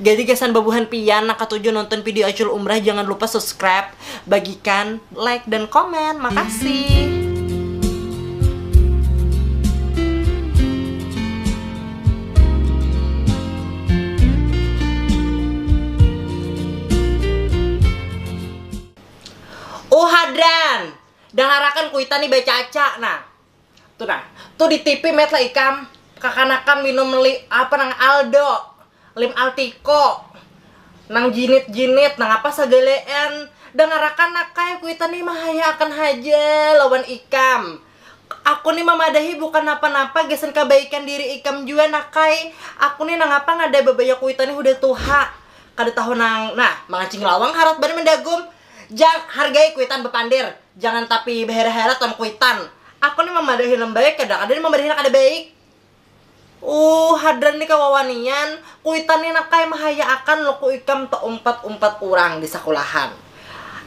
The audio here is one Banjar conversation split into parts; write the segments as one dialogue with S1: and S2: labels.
S1: Jadi gasan babuhan pian nang katuju nonton video Acul Umrah jangan lupa subscribe, bagikan, like dan komen. Makasih. Uhh Hadran! Dangarakan kuitan ni bacaca nah. Tuh nah, tuh di tipi met lah ikam kakanakan minum li, apa nang aldo, lim altiko, nang jinit-jinit, nang apa sagalean. Dangarakan nak ai, kuitan ni mahayaakan haja lawan ikam. Aku ni mamadahi bukan napa-napa gasan kabaikan diri ikam jua nak ai. Aku ni nangapa ngada babaya kuitan ni hudah tuha. Kada tahu nang, nah mangancing lawang harat banar mandagum. Jang, hargai kuitan bapander, jangan tapi bahera-hera ton kuitan. Aku ni mamadahi nang baik kada kada ni mamadahi nang kada baik. Uuh hadran ni kawawanian, kuitan ni nangkaya mahayaakan luku ikam taumpat-umpat urang di sakulahan.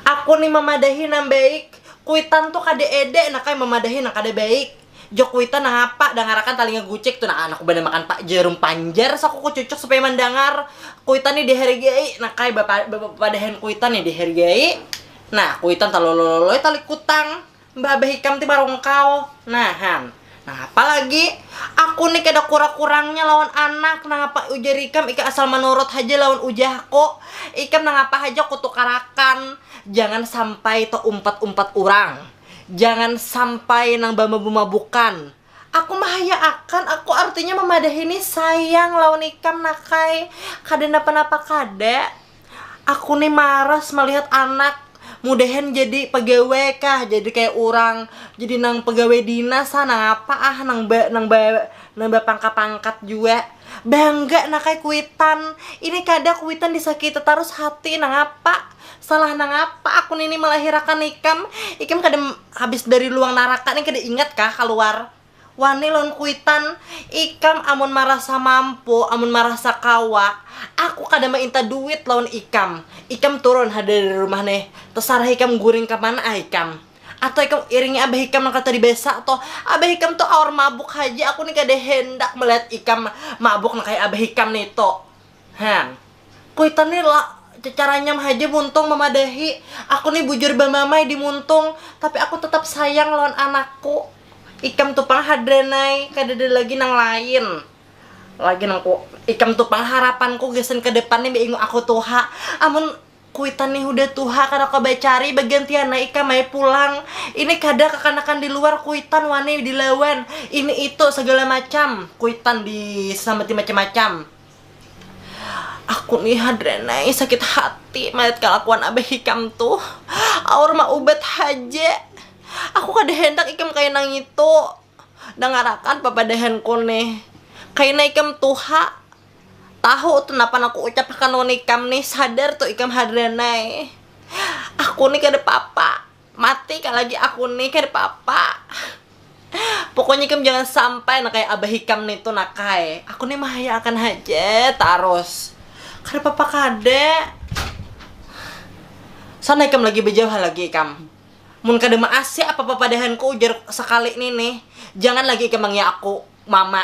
S1: Aku ni mamadahi nang baik, kuitan tu kada ede nangkaya mamadahi nang kada baik. Jok kuitan nangapa dangarakan talinga gucek tu nah anak ku banar makan pak jarum panjar saku ku cucuk supaya mandangar kuitan ni dihargai nah kaya bapadahan kuitan ni dihargai nah kuitan talolololoi tali kutang mbah abah ikam ti marungkau nah han nangapa lagi aku ni kada kura kurangnya lawan anak nangapa ujar ikam ikam asal manurut haja lawan ujahku ikam nangapa haja kutukarakan jangan sampai taumpat umpat urang. Jangan sampai nang bamabumabukan. Aku mahaya akan aku artinya mamadahi ni sayang lawan ikam nakai kada napa napa kada aku ni maras malihat anak mudahan jadi pagawe kah jadi kaya urang jadi nang pagawe dinas ha nangapa ah nang ba nang ba nang bapangkat pangkat jua bangga nakai kuitan ini kada kuitan disakiti tarus hati nangapa. Salah nangapa aku nini malahirakan ikam? Ikam kada habis dari luang naraka ni kada ingat kah kaluar? Wani lawan kuitan, ikam amun marasa mampu, amun marasa kawa, aku kada mainta duit lawan ikam. Ikam turun ha dari rumah ni, tasarah ikam guring ka mana ah ikam. Atau ikam iringi abah ikam nang katuha di besa tu. Abah ikam tu awar mabuk haja, aku ni kada handak malihat ikam mabuk nang kaya abah ikam nitu. Hang. Kuitan ni la, cacaranyam haja muntung mamadahi. Aku ni bujur bamamai di muntung, tapi aku tatap sayang lawan anakku. Ikam tu pang hadranai, kadada lagi nang lain. Lagi nang ku, ikam tu pang harapanku gasan ke depan ni bainguk aku tuha. Amun Kuitan nih hudah tuha kada kawa bacari, bagantian ai ikam ai pulang. Ini kada kakanakan di luar kuitan wani dilawan ini itu sagala macam, kuitan disambati macam-macam. Aku nih hadran ai sakit hati malihat kalakuan abah ikam tuh, aur maubat haja. Aku kada handak ikam kaya nangitu. Dangarakan papadahanku nih, kaina ikam tuha Tahu tu napa nang kuucap akan nuan ikam nih, sadar tu ikam Hardanae. Aku nih kada papa, mati ka lagi aku nih kada papa. Pokoknya ikam jangan sampai nang kaya abah ikam nih tu nakai. Aku nih mahaya akan haja tarus. Kada papa kada. Sana ikam lagi bajauh ha lagi ikam. Mun kada maasi apa papadahanku ujar sakali nih nih, jangan lagi ikam mangiya aku mama.